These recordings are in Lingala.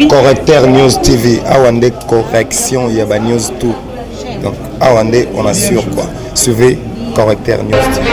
correcteur news tv awa nde correction ya ba news tout donc awa nde on assure quoi suivez correcteur news tv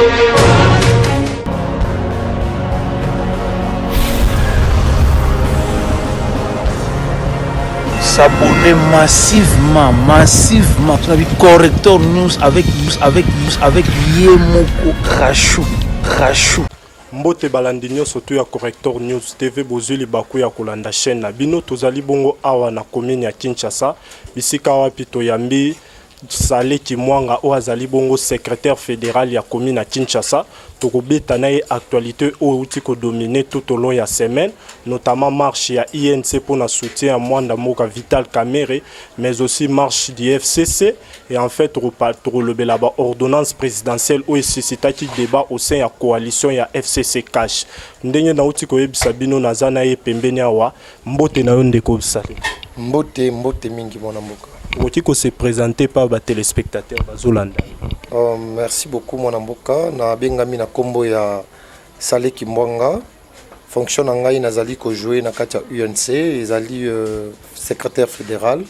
s'abonner massivement massivement tuna bi correcteur news avec avec avec ye moko crachou crachou Mbote balandi nionso tout ya Corrector News TV, bozui libaku ya kolanda chaine na bino. Tozali bongo awa na commune ya Kinshasa, bisika wapi toyambi Sale Kimwanga oyo azali bongo secretaire federal ya commune ya Kinshasa. Tokobeta na ye actualite oyo euti kodomine tout au long ya semaine, notamment marche ya INC mpo na soutien ya mwanda mboka Vital Kamerhe, mais aussi marche du FCC Et en fait, tokolobela ba ordonnance présidentielle oyo suscitaki débat au sein ya coalition ya FCC Cash. Ndenge nauti koyebisa bino naza na ye pembeni awa. Mbote na yo ndeko Bisale. Mbote, mbote mingi mwana mboka. Okoki ko se présenter par ba téléspectateurs bazolanda. Oh, merci beaucoup mwana mboka. Na bengami na kombo ya Sale Kimbwanga. Fonction na ngai nazali ko jouer na kati ya UNC ezali euh, secrétaire fédéral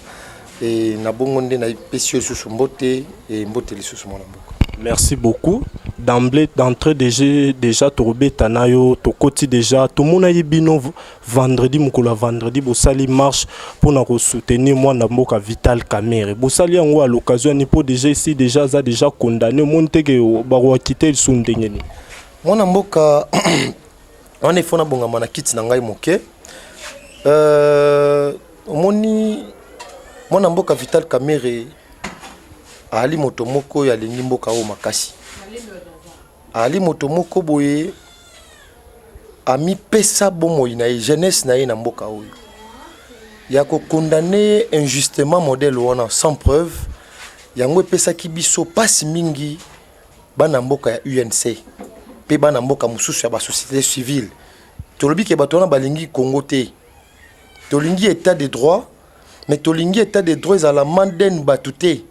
et na bongo nde na pesi lisusu mbote et mbote lisusu mwana mboka. Merci beaucoup. D'emblée, d'entrée déjà, déjà Torobeta Nayo, Tokoti déjà, tout le monde a bino vendredi, Mukula vendredi, Bossali marche pour nous soutenir moi dans Moka Vital Kamere. Bossali en à l'occasion, Nipo déjà ici, déjà, ça déjà condamné, monte que Baroua quitter le Sundengeni. Mwana mboka wana ifo nabongama na kiti na ngai moke. Euh, omoni mwana mboka Vital Kamerhe aali moto moko oyo alingi mboka oyo makasi, aali moto moko boye amipesa bomoi na ye jeunesse na ye na mboka oyo ya kokondane ye injustement modèle wana sans preuve yango epesaki biso mpasi mingi bana mboka ya UNC mpe bana mboka mosusu ya ba société civile tolobi ke bato wana balingi Congo te tolingi état de droit mais tolingi état de droit ezala manden bato te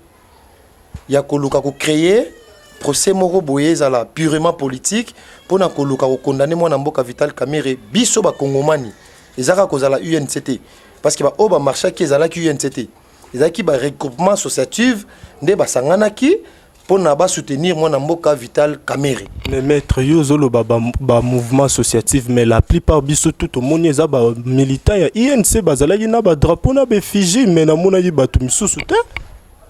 ya koluka ko créer procès moko boye ezala purement politique mpo na koluka kokondane mwana mboka Vital Kamerhe biso bakongomani ezaka kozala UNC te parce que baoyo bamarchaki ezalaki UNC te ezalaki ba regroupement associative nde basanganaki mpo na basoutenir mwana mboka vital kamere mais maître yo ozoloba bamouvement ba associative mais la plupart biso tout tomoni eza bamilitant ya inc bazalaki na badrapeau na baeffigie mais namonaki bato misusu te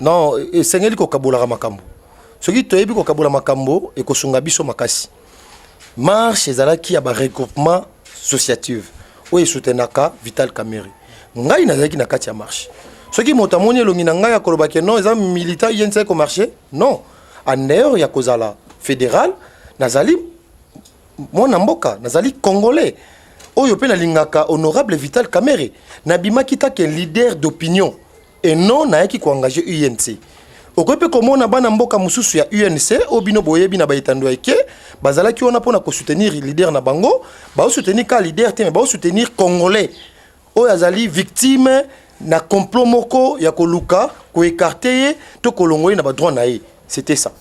non esengeli kokabolaka makambo soki toyebi kokabola makambo ekosunga biso makasi marche ezalaki ya baregroupement sociative oyo esutenaka vital camere ngai nazalaki na kati ya marche soki moto amoni elongi na ngai akoloba ke non eza militant yenisa komarche non en heure ya kozala fédéral nazali mwana mboka nazali congolais oyo mpe nalingaka honorable vital camere nabimaki take leader d'opinion et non nayaki ko engager UNC. Okoki mpe komona bana mboka mosusu ya UNC oyo bino boyebi na baetando ya ike bazalaki wana mpo na kosoutenir leader na bango, baosoutenir ka leader te, me baosoutenir congolais oyo azali victime na complot moko ya koluka koekarte ye to kolongo ye na badroit na ye. C'était ça.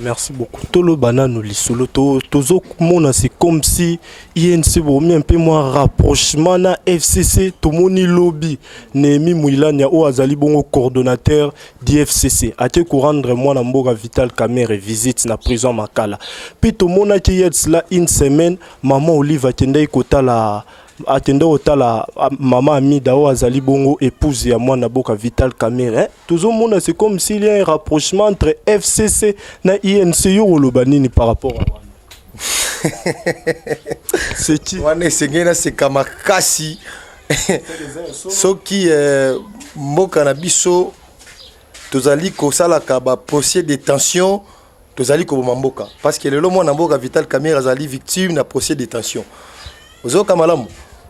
Merci beaucoup. Tolo banano lisolo to tozo mona c'est comme si INC bomi un peu moins rapprochement na FCC to moni lobby Nemi Muilania o azali bongo coordonnateur d'IFCC ate ko rendre moi na mboka Vital Kamerhe visite na prison Makala. Puis to mona ki yet cela une semaine maman Olive akendaki kotala akende kotala mama amida oyo azali bongo épouse ya mwana boka vital camere hein? tozomona c'est comme s'il y a un rapprochement entre fcc na inc yo koloba nini par rapport à wana seki wana esengeli naseka makasi soki eh, mboka na biso tozali kosalaka baprocès de tension tozali koboma mboka parce que lelo mwana mboka Vital Kamerhe azali victime na procès de détention ozoka malamu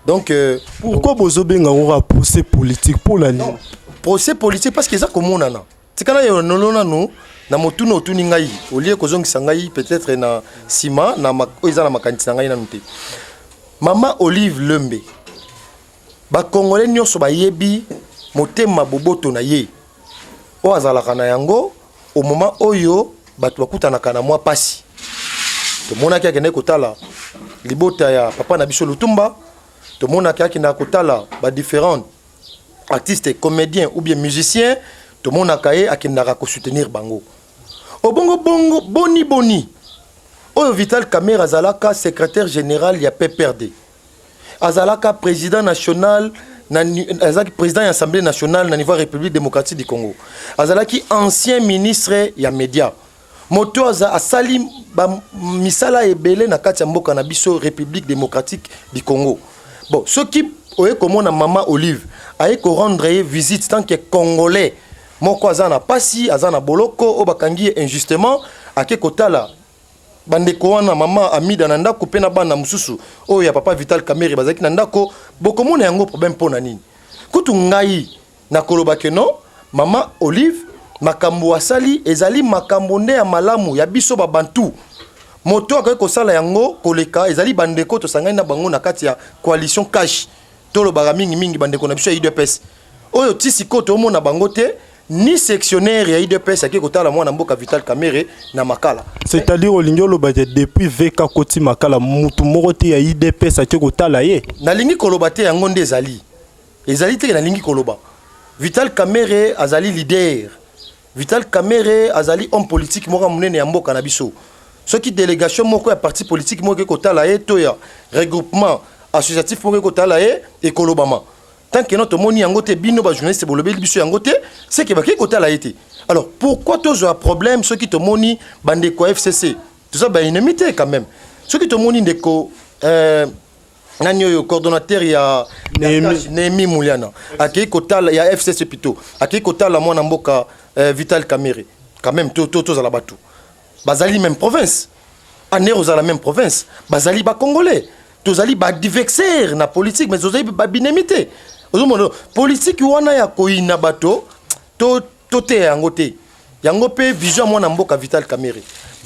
donc euh, pourquoi bozo benga ngora procès politique pour la nini procès politique parce que eza komonana tikala yo nolona no na motuna otuni ngai olie kozongisa ngai peut-être na sima na oyo eza na makanisi na ngai nanu te mama Olive Lembe Ba congolais nionso bayebi motema boboto na ye oyo azalaka na yango au moment oyo bato bakutanaka na mwa pasi. Tomonaki akendaki kotala libota ya papa na biso Lutumba, tomonaki akendaka kotala ba differents artistes comédiens ou bien musiciens, tomonaka ye akendaka ko soutenir bango. Obongo bongo boni boni oyo Vital Kamerhe azalaka secretaire general ya PPRD. azalaka président national azalaki président ya assemblée nationale na niveau ya république démocratique du congo azalaki ancien ministre ya média moto oyo aza asali misala ebele na kati ya mboka na biso république démocratique du congo bon soki oye komona mama olive aye korendre ye visite tant que congolais moko aza na pasi aza na boloko oyo bakangi ye injustement ake kotala bandeko wana mama amida na ndako mpe na bana mosusu oyo ya papa vital kamere bazalaki na ndako bokomona yango problème mpo na nini kutu ngai nakoloba ke non mama olive makambo asali ezali makambo nde ya malamu ya biso babantu moto akoki kosala yango koleka ezali bandeko tosangani na bango na kati ya coalition cash tolobaka mingimingi bandeko na biso ya udps oyo ti sikoyo tomona bango te ni sectionnaire ya idps ake kotala mwana mboka vital kamere na makala c'est-à-dire olingi oloba te depuis vk akoti makala mutu moko te ya idps ake kotala ye nalingi koloba te yango nde ezali ezali te nalingi koloba vital kamere azali leader vital kamere azali homme politique moko ya monene ya mboka na biso soki délégation moko ya parti politique moko eke kotala ye to ya regroupement associatif moko ekotala ye ekolobama tant que no tomoni yango te bino ba journaliste bolobeli biso yango te c'est que bakei kotala ye te alors pourquoi tozwa problème soki tomoni bandeko ya fcc toza baennemi te quand même soki tomoni ndeko euh, nani oyo coordonnateur ya nehemi muliana akei kotala ya fcc plutôt akei kotala mwana mboka euh, vital kamere quand même tozala to, to, to bato bazali même province aner ozala même province bazali ba congolais tozali ba divexer na politique mais tozali ba binemi te ozomona politique wana ya koyina bato to toteya yango te yango mpe vision ya mwana mboka vital kamere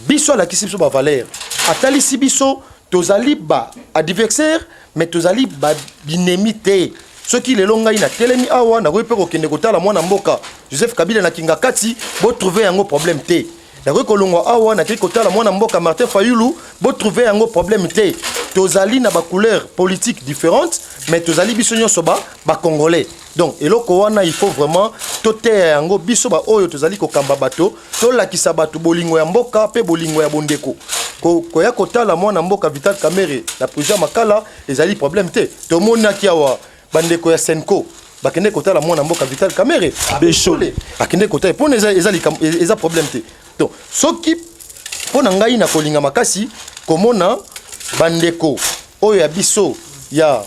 biso alakisi biso bavaleur atalisi biso tozali ba adversaire mais tozali ba binemi te soki lelo ngai natelemi awa nakoki mpe kokende kotala mwana mboka joseph kabila na kingakati botrouve yango problème te nakoki kolongwa awa nakei kotala mwana mboka martin fayulu botrouve yango problème te tozali na bacouleur politique différente mais tozali biso nyonso bacongolais donc eloko wana il faut vraiment toteya yango biso baoyo tozali kokamba bato tolakisa bato bolingo ya mboka mpe bolingo ya bondeko koya kotala mwana mboka vital kamere na prison ya makala ezali problème te tomonaki awa bandeko ya senco bakende kotala mwana mboka vital kamere beshole akende kotala mpona eza, eza, eza problème te donc soki mpo na ngai nakolinga makasi komona bandeko oyo ya biso ya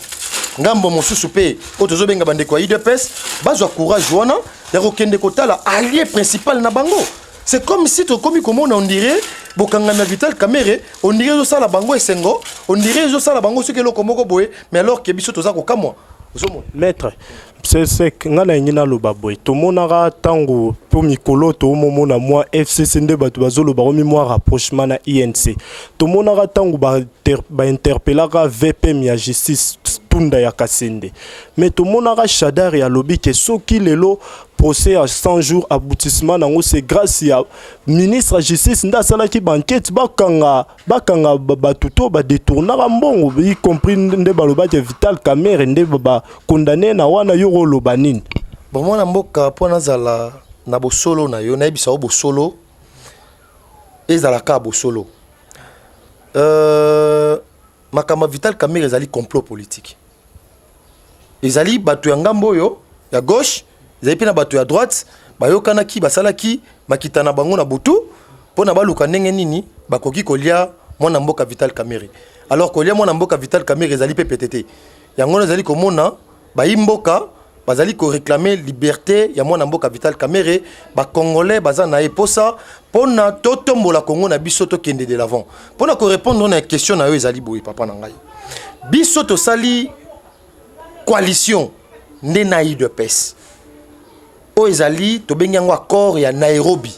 ngambo mosusu mpe oyo tozobenga bandeko ya udps bazwa courage wana ya kokende kotala allié principal na bango C'est comme si tokomi komona on dirait bokangami ya Vital Kamerhe on dirait ezosala bango esengo on dirait ezosala bango soki eloko moko boye mais alors que biso toza kokamwa ozomona maître sesek ngai nalingi naloba boye tomonaka ntango mpo mikolo toomomona mwa fcc nde bato bazoloba komi mwa rapprochement na inc tomonaka ntango bainterpelaka ba vpm ya justice tunda ya kasende mais tomonaka shadari alobi ke soki lelo procès ya 100 jours aboutissement nango c'est grâce ya ministre ya justice nde asalaki bankete bakanga bakanga bato to badetournaka mbongo y compris nde balobaki ya vital camere nde bacondamne na wana yo oloba nini bomwana mboka mpo nazala na bosolo na yo nayebisa yo bosolo ezalaka bosolo euh, makambo ya vital camere ezali complot politique ezali bato ya ngambo oyo ya gauche ezali mpe na bato ya droite bayokanaki basalaki makita na bango na butu mpo na baluka ndenge nini bakoki kolia mwana mboka vital camere alors kolia mwana mboka vital camere ezali mpe pete te yango wana ezali komona bayi mboka bazali koreklame liberte ya mwana mboka vital camere bacongolais baza na ye mposa mpo na totombola kongo na biso tokende de l'avant mpo na korepondre na question na yo ezali boye papa na ngai biso tosali coalition nde na udps oyo ezali tobengi yango accord ya nairobi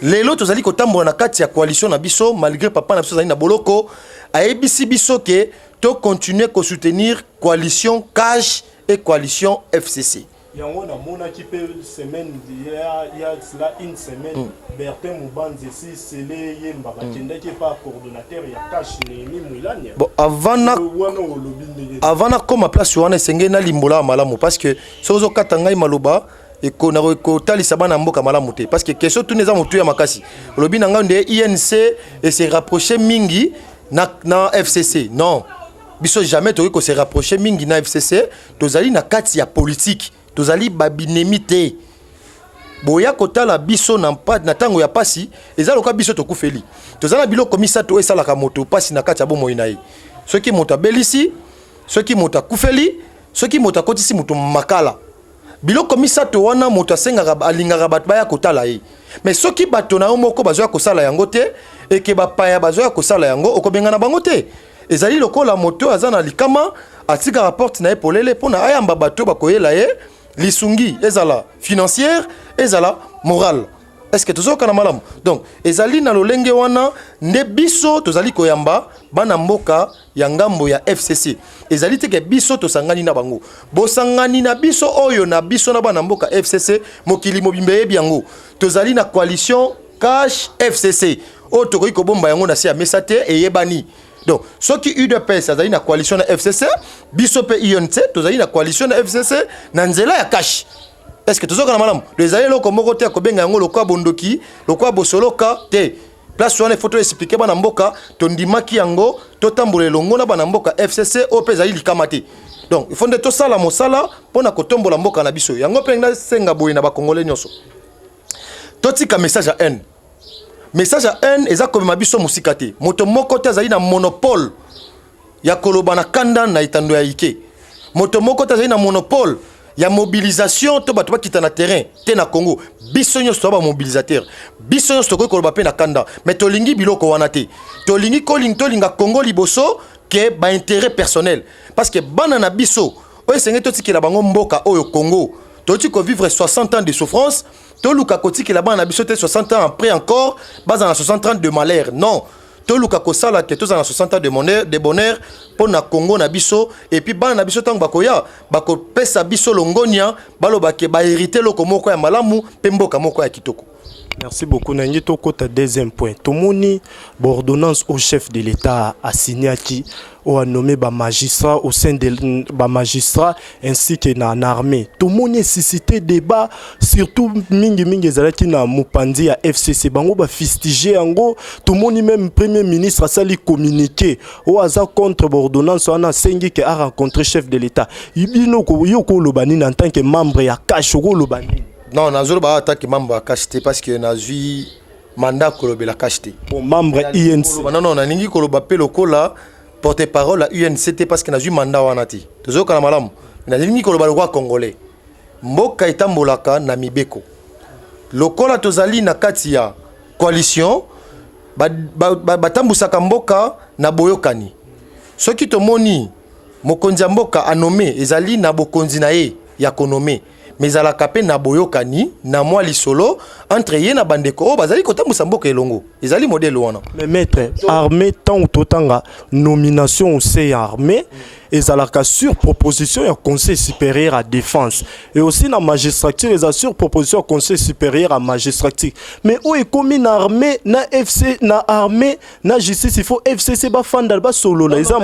lelo tozali kotambola na kati ya coalition na biso malgré papa na biso azali na boloko ayebisi biso ke tocontinue kosoutenir coalition cash e coalition fcc Yango na monaki pe semaine il ya cela une semaine mm. Bertin Mubanzi si Sele Yemba ba kendaki mm. pa coordinateur ya cash Nehemi Mwilanya. Bon avant na wana olobi ndenge. Avant na koma place wana esengeli na limbola malamu parce que soki ozo kata ngai maloba ekona kotalisa bana mboka malamu te parce que question tuni eza motu ya makasi olobi na ngai nde inc e se rapprocher mingi na, na fcc non biso jamais tokoki ko se rapprocher mingi na fcc tozali na kati ya politiki tozali babinemi te boya kotala biso na ntango ya mpasi eza lokola biso tokufeli toza na biloko misato oyo esalaka moto mpasi na kati ya bomoi na ye soki moto abelisi soki moto akufeli soki moto akotisi moto makala biloko misato wana moto asengaka alingaka bato baya kotala ye mais soki bato na yo moko bazoya kosala yango te eke bapaya bazoya kosala yango okobengana bango te Ezali lokola moto oyo aza na likama atikaka porte na ye polele mpo na ayamba bato bakoyela ye lisungi ezala financière ezala morale est-ce que tozokana malamu donc ezali na lolenge wana nde biso tozali koyamba bana mboka ya ngambo ya fcc ezali te ke biso tosangani na bango bosangani na biso oyo na biso na bana mboka fcc mokili mobimba eyebi yango tozali na coalition cash fcc oyo tokoki kobomba yango na se ya mesa te eyebani donc soki udps azali na coalition na fcc biso mpe unc tozali na coalition na fcc na nzela ya kashi est ce que tozokana malamu do ezali eloko moko te ya kobenga yango lokola bondoki lokola bosoloka te place wana ifo toexplike bana mboka tondimaki yango totambola elongo na bana mboka fcc oyo mpe ezali likama te donc ifo nde tosala mosala mpo na kotombola mboka na biso yango mpe nasenga boye na bakongole nyonso totika message ya haine message ya haine eza komema biso mosika te moto moko te azali na monopole ya koloba na kanda na etando ya ike moto moko te azali na monopole ya mobilisation to bato bakita na terrain te na congo biso nyonso toza bamobilisateur biso nyonso tokoki koloba mpe na kanda me tolingi biloko wana te tolingi koling tolinga congo liboso ke baintérêt personnel parce que bana na biso oyo esengeli totikela bango mboka oyo congo toyoti kovivre 60 ans de souffrance toluka kotikela bana na biso te 60 ans après encore baza na 60 ans de malheur non toluka kosala te tozala na 60 ans de bonheur, de bonheur mpo na congo na biso epuis bana na biso ntango bakoya bakopesa biso longonia baloba ke baherite eloko moko ya malamu mpe mboka moko ya kitoko Merci beaucoup. Nangi Tokota, deuxième point. Tomoni, l'ordonnance au chef de l'État a signé qui oyo anome ba magistrat au sein de ba magistrat ainsi que na, na armée tomoni esisite débat surtout mingi mingi ezalaki na mopanzi ya fcc bango bafistige yango tomoni meme premier ministre asali communiqué oyo aza contre baordonnance wana asengi ke arencontre chef de l'état bino yo okoloba nini en tant que membre ya cash okoloba nini non nazoloba atanke membre ya cash te parce que nazwi mandat kolobela cash te bon membre INC non non nalingi koloba pe lokola porte parole ya UNC te parce que nazui mandat wana te tozokana malamu nalingi koloba lokola congolais mboka etambolaka na mibeko lokola tozali na kati ya coalition batambusaka ba, ba, ba mboka na boyokani soki tomoni mokonzi ya mboka anome ezali na bokonzi na ye ya konome mais ezalaka mpe na boyokani na mwa lisolo entre ye na bandeko oyo bazali kotambwisa mboka elongo ezali modele wana mais maître armée ntango totanga nomination ose ya armée ezalaka sur proposition ya conseil supérieur à défense et aussi na magistrature eza sur proposition ya conseil supérieur à magistrature mais oyo ekomi na armée na fc na armée na justice il faut fcc bafanda basolola eza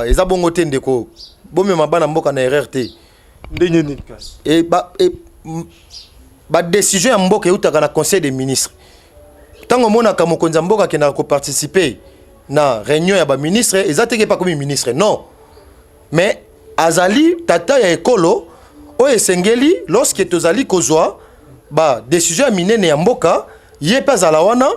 eza bongo te ndeko bomema bana mboka na erreur te ndenge nini kasi e, ba, e, badécision ya mboka eutaka na conseil des ministres ntango omonaka mokonzi ya mboka akendaka koparticipe na réunion ya baministre eza teke epa komi ministre non mais azali tata ya ekolo oyo esengeli lorsque tozali kozwa badécision ya minene ya mboka ye mpe azala wana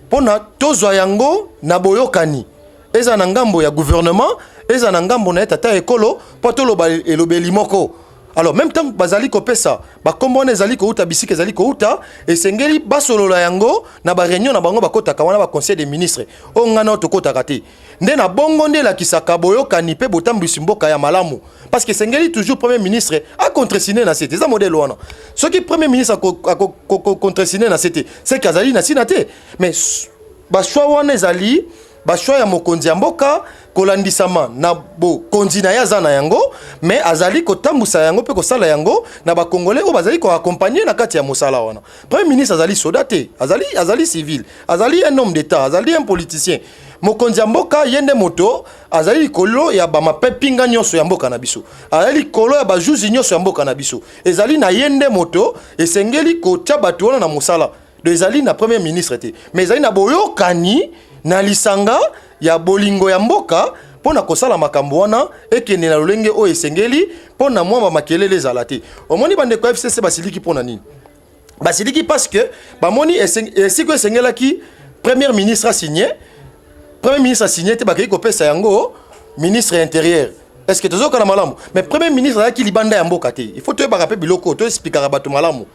mpo na tozwa yango na boyokani eza na ngambo ya gouvernement eza na ngambo na ye tata ya ekolo mpo toloba elobeli moko alors même ntango bazali kopesa bakombo wana ezali kouta bisika ezali kouta esengeli basolola yango na bareunion na bango bakotaka wana baconseil des ministres oyo ngai nao tokotaka te nde na bongo nde elakisaka boyokani mpe botambwisi mboka ya malamu parce que esengeli toujours premier ministre acontresine na se te eza modele wana soki premier ministre acontresine na se te seke azali na ntina te mais bachoix wana ezali Bashwa ya mokonzi ya mboka kolandisama na bokonzi na ye aza na yango me azali kotambusa yango mpe kosala yango na bakongole oyo bazali koakompagne na kati ya mosala wana premier ministre azali soda te azali, azali civil azali un homme d'état azali un politicien mokonzi ya mboka ye nde moto azali likolo ya bamapepinga nyonso ya mboka na biso azali likolo ya bajuzi nyonso ya mboka na biso ezali na ye nde moto esengeli kotya bato wana na mosala do ezali na premier ministre te mais ezali na boyokani na lisanga ya bolingo ya mboka mpo na kosala makambo wana ekende na lolenge oyo esengeli mpo na mwa bamakelele ezala te omoni bandeko ya fcc basiliki mpo na nini basiliki parce que bamoni esiko esengelaki premier ministre asigne premier ministre asigne te bakei kopesa yango ministre ya intérieur est ce que tozokana malamu mais premier ministre azalaki libanda ya mboka te il faut toyebaka mpe biloko toexplikaka bato malamu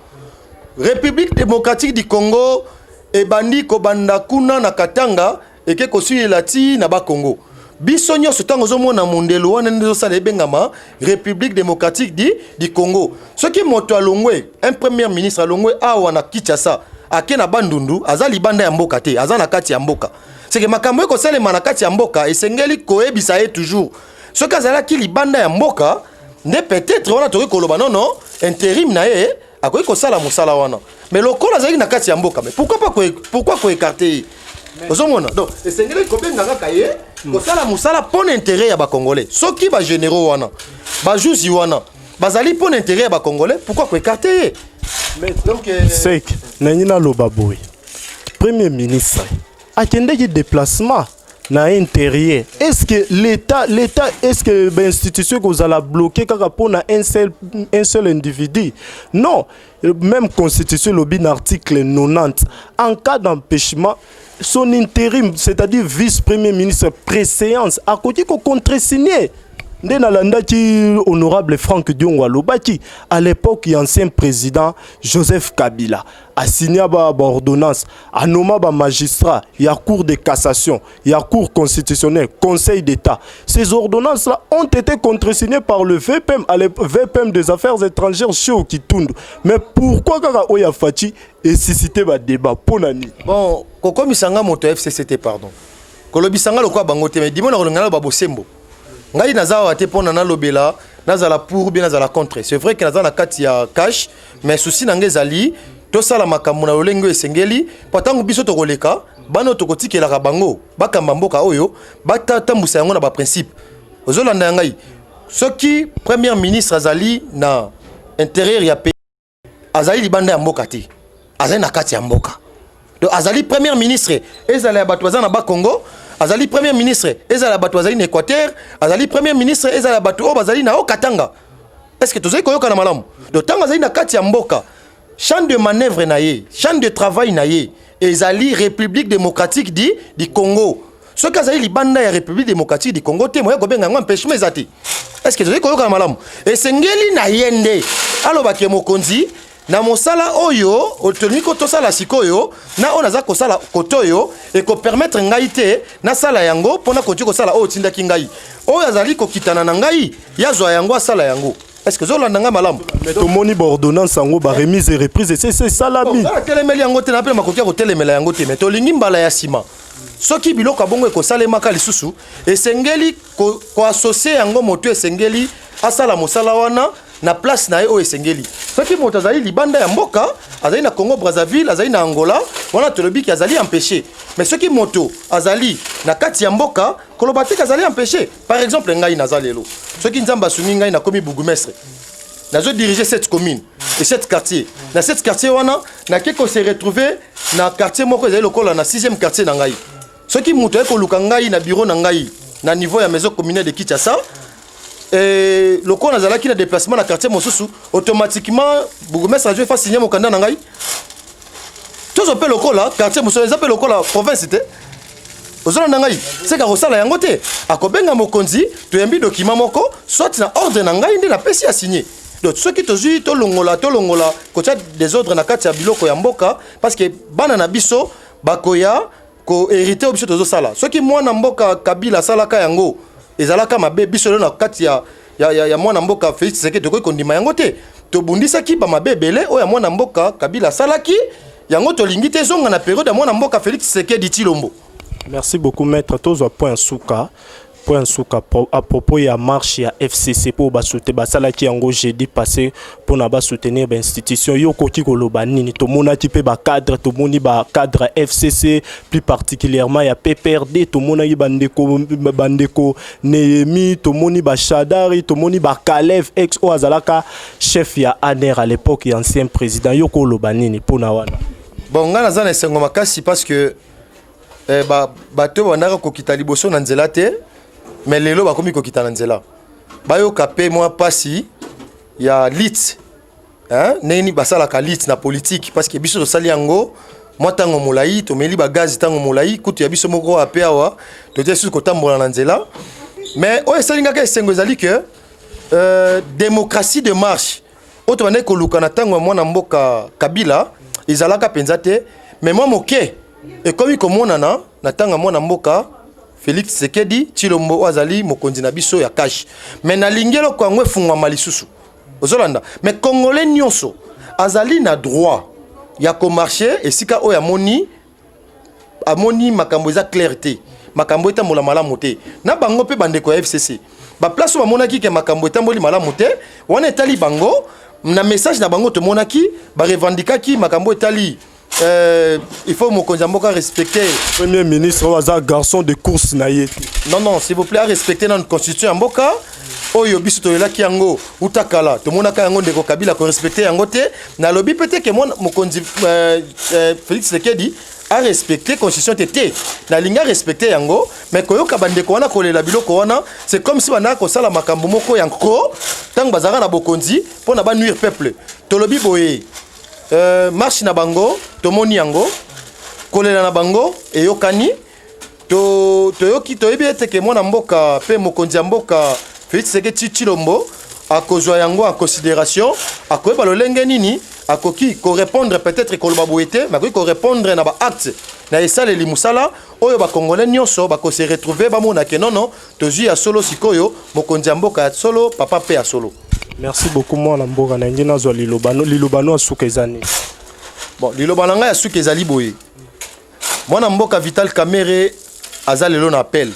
Republique democratique du Congo ebandi kobanda kuna na Katanga eke kosilela ti na Bakongo. Biso nyonso ntango ozomona mondelo wana nde ezosala ebengama République démocratique du, du Congo. Soki moto alongwe, un premier ministre alongwe awa na Kinshasa, ake na Bandundu, aza libanda ya mboka te, aza na kati ya mboka. Seke makambo ekosalema na kati ya mboka esengeli koyebisa ye toujours. Soki azalaki libanda ya mboka, nde peut-être wana tokoki koloba nono interim na ye akoki kosala mosala wana mais lokola azalaki na kati ya mboka mais pourquoi pas pourquoi ko écarter ye ozomona donc esengelaki kobenga kaka ye hmm. kosala mosala mpo na intérêt ya bacongolais soki bagénéraux wana bajuzi wana bazali mpo na intérêt ya bacongolais pourquoi ko écarter ye donc euh, sek nangi naloba boye premier ministre akendeki deplacement na interieur est ce que l'état l'état est ce que ba institution ekozala bloqué kaka mpo na un seul, un seul individu non même constitution elobi na article 90 en cas d'empêchement son intérim c'est-à-dire vice premier ministre préséance akoki kocontresigne nde nalandaki honorable frank diongo alobaki à l'époque ya ancien président joseph kabila asigna ba ordonnance anoma ba magistrat ya cour de cassation ya cour constitutionnelle conseil d'état ces ordonnances là ont été contresignées par le vpm à le vpm des affaires étrangères chez okitundu mais pourquoi kaka oyo ya faci esisite badébat mpo na nini bon kokomisa nga moto ya fcc te pardon kolobisa nga lokola bango te mais dimona kolonga naloba bosembo ngai naza awa te mpo na nalobela nazala pour bien nazala contre c'est vrai que naza na kati ya cash mais souci na ngai ezali tosala makambo na lolenge oyo esengeli mpo ntango biso tokoleka bana oyo tokotikelaka bango bakamba mboka oyo batambusa yango na baprincipe ozolanda ya ngai soki première ministre azali na intérieur ya pays azali libanda ya mboka te azali na kati ya mboka donc azali première ministre ezala ya bato baza na bakongo azali premier ministre ezala bato bazali na équateur azali premier ministre ezala bato oyo bazali na o katanga est ce que tozali koyokana malamu donc ntango azali na kati ya mboka champ de manœuvre na ye champ de travail na ye ezali république démocratique di di congo soki azali libanda ya république démocratique du congo te moya kobenga yango empêchement eza te estce tozali koyokana malamu esengeli na ye nde alobake mokonzi na mosala oyo tolingi ko tosala sikoyo na oyo naza kosala kote oyo ekopermetre ngai te nasala yango mpo nakoki kosala oyo otindaki ngai oyo azali kokitana na ngai yazwa yango asala yango est-ce que ozolanda ngai malamu mais tomoni baordonnance yango baremise reprise esesi esalami telemeli yango te na mpe makoki ya kotelemela yango te mais tolingi mbala ya nsima soki biloko ya bongo ekosalemaka lisusu esengeli koasosie yango moto esengeli asala mosala wana na place na ye oyo esengeli soki moto azali libanda ya mboka azali na congo brazzaville azali na angola wana tolobi ki azali empêche mais soki moto azali na kati ya mboka koloba teke azali empêche par exemple ngai naza lelo soki nzambe asungi ngai nakomi bourgmestre nazo dirige cette commune et cette quartier na cette quartier wana nake ko se retrouver na quartier moko ezali lokola na 6e quartier na ngai soki moto aye koluka ngai na biro na ngai na niveau ya maison communale de Kinshasa eh, lokola nazalaki na déplacement na quartier mosusu automatiquement bourgmestre ajo efa signe mokanda na ngai tozo mpe lokola quartier mosusu eza mpe lokola province te ozona na ngai seka kosala yango te akobenga mokonzi toyambi dokima moko soit na ordre na ngai nde napesi ya signe donc soki tozwi tolongola tolongola kotya desordre na kati ya biloko ya mboka parce que bana na biso bakoya ko hériter oyo biso tozosala soki mwana mboka kabila asalaka yango ezalaka mabe biso lelo na kati ya, ya, ya, ya mwana mboka félix tshisekedi tokoki kondima yango te tobundisaki bamabe ebele oyo ya mwana mboka kabila asalaki yango tolingi te ezonga na periode ya mwana mboka félix tshisekedi tshilombo Merci beaucoup maître tozwa point suka Point en suka à propos ya marche ya FCC pour ba soutenir ba sala ki yango jeudi passé pour na ba soutenir ba institution yo koki ko loba nini to mona ki pe ba cadre to moni ba cadre FCC plus particulièrement ya PPRD to mona ki bande ko bande ko Nehemi to moni ba Shadari to moni ba Kalev ex o azalaka chef ya ANR à l'époque ya ancien président yo ko loba nini pour na wana bon ngana zana esengo makasi parce que eh, ba, bato oyo bandaka kokita liboso na nzela te me lelo bakomi kokita na nzela bayoka mpe mwa mpasi ya lit ndenge nini basalaka lit na politike parce que biso tosali yango mwa ntango molai tomeli bagazi ntango molai kutu ya biso moko ape awa totie susu kotambola na nzela mais oyo esali ngaka esengo ezali ke euh, démocratie de marche oyo tobandaki koluka na ntango ya mwana mboka kabila ezalaka mpenza te me mwa moke ekomi komonana na ntango ya mwana mboka felix tshisekedi tshilombo oyo azali mokonzi na biso ya kashi me nalingi eloko yango efungwama lisusu ozolanda me congolais nyonso azali na droit ya komarche esika oyo amoni amoni makambo eza claire te makambo etambola malamu te na bango mpe bandeko ya fcc baplace oyo bamonaki ke makambo etamboli malamu te wana etali bango na message na bango tomonaki barevendikaki makambo etali Euh, il faut mokonzi ya mboka respecte premier ministre oyo aza garçon de course na ye te non non s'il vous plaît arespecte nanu constitution ya mboka oyo biso toyelaki yango uta kala tomonaka yango ndeko kabila korespecte yango te nalobi mpe te ke mwana mokonzi euh, euh, Felix Tshisekedi a respecter constitution te te nalingi a respecter yango mais koyoka bandeko wana kolela biloko wana c'est comme si bandaka kosala makambo moko ya nko ntango bazalaka na bokonzi mpo na banuire peuple tolobi boye euh, marche na bango tomoni yango kolela na bango eyokani to toyoki toyebi ete ke mwana mboka mpe mokonzi ya mboka Felix Tshisekedi Tshilombo akozwa yango en consideration, akoyeba lolenge nini akoki korepondre peut-être koloba boye te, mais akoki korepondre na baacte na esaleli mosala oyo bakongole nyonso bakose retrouve bamona ke nono tozwi ya solo sikoyo mokonzi ya mboka ya solo papa mpe ya solo. Merci beaucoup mwana mboka na nge nazwa lilobano lilobano ya suka eza nini? Bon, liloba na ngai ya suka ezali boye Mwana mboka Vital Kamerhe aza lelo na appel.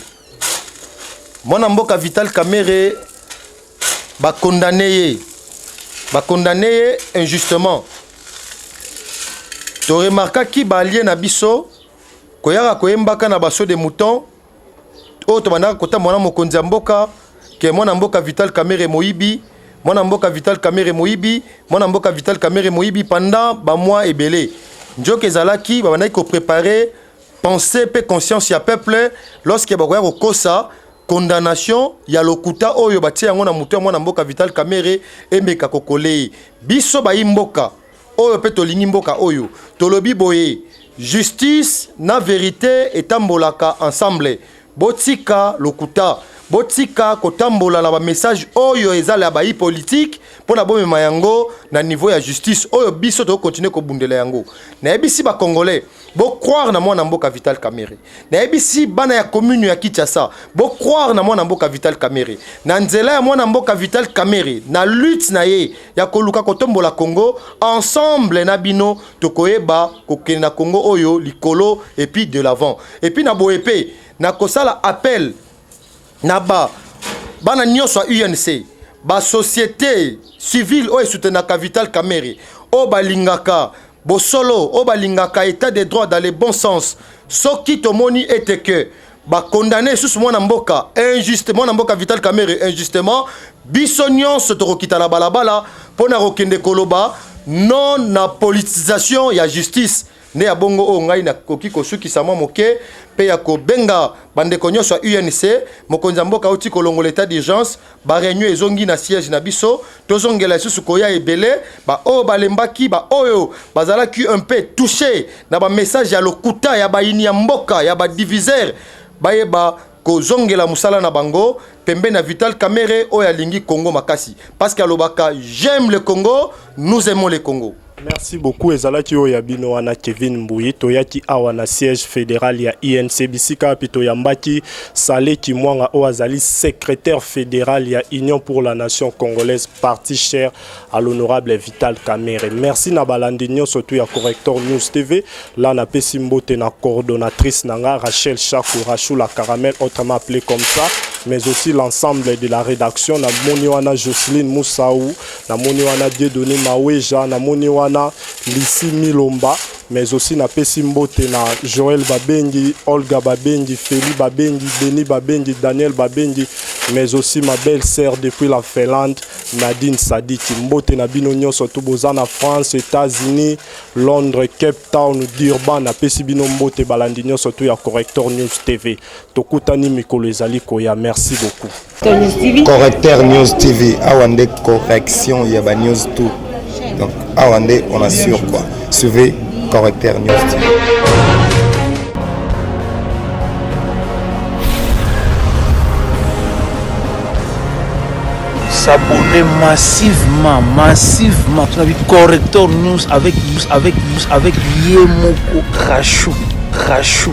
Mwana mboka Vital Kamerhe ba condamné ye. Ba condamné ye injustement. To remarquaki ba alliés na biso koyaka koyembaka na baso de mouton oyo tobandaka kotambola na mokonzi ya mboka ke mwana mboka Vital Kamerhe moyibi mwana mboka Vital Kamerhe moyibi mwana mboka Vital Kamerhe moyibi pendant ba mois ebele njoka ezalaki babandaki ko préparer pensée pe conscience ya peuple lorsque bakoya kokosa condamnation ya lokuta oyo batie yango na moto ya mwana mboka Vital Kamerhe emeka kokolee biso bayi mboka oyo pe tolingi mboka oyo tolobi boye justice na verite etambolaka ensemble botika lokuta botika kotambola na bamessage oyo ezala ya bayi politike mpo na bomema yango na niveau ya justice oyo biso tokokontinue kobundela yango nayebisi bacongolais bocroire na mwana mboka vital kamere nayebisi bana ya commune ya kinshasa bocroire na mwana mboka vital kamere na nzela ya mwana mboka vital kamere na lutte na ye ya koluka kotombola congo ensemble na bino tokoyeba kokende na congo oyo likolo epuis de l'avant epuis na boye mpe nakosala appel na ba bana nyonso ya unc basociété civile oyo esutenaka vital kamere oyo balingaka Bosolo oyo balingaka etat de droit dans le bon sens soki tomoni ete que bakondane lisusu mwana mboka injuste mwana mboka Vital Kamerhe injustement biso nyonso tokokita na balabala mpo na kokende koloba non na politisation ya justice nde ya bongo oyo ngai nakoki kosukisa mwa moke mpe ya kobenga bandeko nyonso ya UNC mokonzi ya mboka auti kolongola etat d'urgence bareunion ezongi na siège na biso tozongela lisusu koya ebele baoyo balembaki baoyo bazalaki un peu touche na bamessage ya lokuta ya bayini ya mboka ya badivisere bayeba kozongela mosala na bango pembeni na vital kamere oyo alingi congo makasi parce que alobaka j'aime le congo nous aimons le congo Merci beaucoup ezalaki oyo ya bino wana Kevin Mbuyi toyaki awa na siège fédéral ya INC bisika wapi toyambaki Sale Kimwanga oyo azali secrétaire fédéral ya Union pour la nation congolaise parti cher à l'honorable Vital Kamerhe merci na balandi nyonso tu ya Corrector News TV la napesi mbote na coordonnatrice na nga Rachel Shaku Rachou la caramel autrement appelée comme ça mais aussi l'ensemble de la rédaction na moni wana Jocelyne Moussaou namoni wana Dieudonne Maweja, namoni wana Lisi Milomba, mais aussi napesi mbote na Joël Babengi, Olga Babengi, Feli Babengi, Denis Babengi, Daniel Babengi, mais aussi ma belle sœur depuis la Finlande, Nadine Sadiki. Mbote na bino nyonso tu boza na France, États-Unis, Londres, Cape Town, Durban, napesi bino mbote balandi nyonso tu ya Corrector News TV. Tokutani mikolo ezali koya. Merci beaucoup. Correcteur News TV awa nde correction ya ba news tout. Donc awa nde on assure quoi. Suivez Correcteur News TV. s'abonner massivement, massivement. Tu as vu Corrector News avec, avec, avec Yemoko Crachou. Crachou.